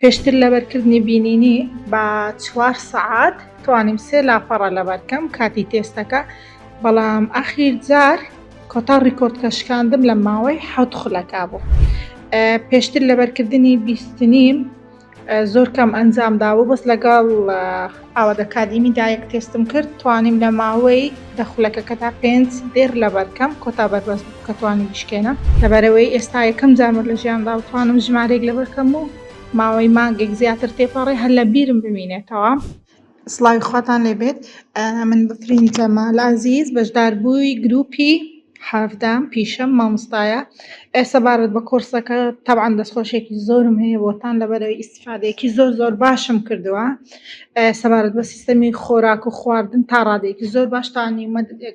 پێشتر لەبەر کردنی بینینی بە چوار سەعات توانیم سێ لاپەڕە لەبەرکەم کاتی تێستەکە بەڵام ئەخیر جار کۆتا ڕیکۆردکە شکاندم لە ماوەی حەوت خولەکە بوو پێشتر لەبەرکردنی بیستنیم زۆر کەم ئەنجام دابوو بەس لەگەڵ ئاوا دەکات ئیمی دایەک تێستم کرد توانیم لە ماوەی دە خولەکەکەدا پێنج دێر لەبەرکەم کۆتا بەربەست بوو کە توانی بشکێنە لەبەرەوەی ئێستا یەکەم جارمە لە ژیاندا و توانم ژمارەیەک لەبەرکەم و ماوەی مانگێک زیاتر تێپەڕێ هەر لە بیرم بمینێتەوە. سڵاوی خواتان لێ بێت من بەفرین جەمال عەزیز بەشداربووی گروپی حەڤدام پیشەم مامۆستایە ئێستا بارەت بە کۆرسەکە تەبعەن دەستخۆشێکی زۆرم هەیە بۆتان لەبەرەوەی ڕادەیەکی زۆر زۆر باشم کردووە سەبارەت بە سیستەمی خۆراک و خواردن تا ڕادێکی زۆر باشتانی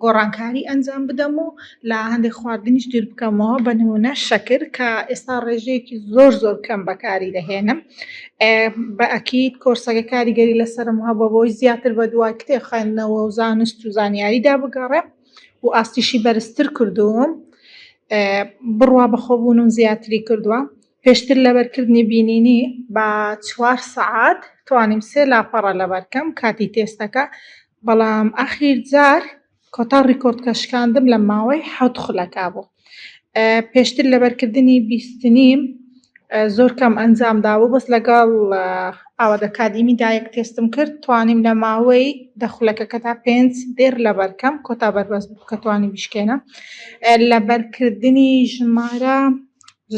گۆڕانکاری ئەنجام بدەم و لە هەندێک خواردنیش دیر بکەمەوە بە نمونە شەکر کە ئێستا ڕێژەیەکی زۆر زۆر کەم بەکاری دەهێنم بە ئەکیید کۆرسەکە کاریگەری لەسرم هەبە بۆی زیاتر بە دوای کتێ خوێندنەوە و زانست و زانیاریدا بگەڕێ و ئاستیشی بەرزتر کردووم بڕوا بەخۆبوونم زیاتری کردووە. پێشتر لەبەر کردنی بینینی بە چوار سەعات توانیم سێ لاپەڕە لەبەر کەم کاتی تێستەکە بەڵام ئاخیر جار کۆتا ڕیکۆردکە شکاندم لە ماوەی حەوت خولەکە بوو پێشتر لەبەرکردنی بیستنیم زۆر کەم ئەنجام دابوو بەس لەگەڵ ئاوادە کادیمی دایەک تێستم کرد توانیم لە ماوەی دەخولەکەکە تا پێنج دێر لەبەرکەم کۆتا بەربەست بوو کە توانی بشکێنە لەبەرکردنی ژمارە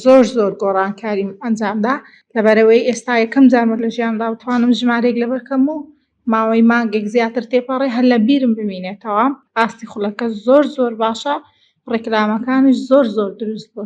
زۆر زۆر گۆڕانکاریم ئەنجامدا لەبەرئەوەی ئێستا یەکەم جارمە لە ژیانمدا بتوانم ژمارەیەک لەبەر کەم و ماوەی مانگێک زیاتر تێپەڕێ هەر لە بیرم بمینێتەوە ئاستی خولەکە زۆر زۆر باشە ڕیکلامەکانیش زۆر زۆر دروست بوون.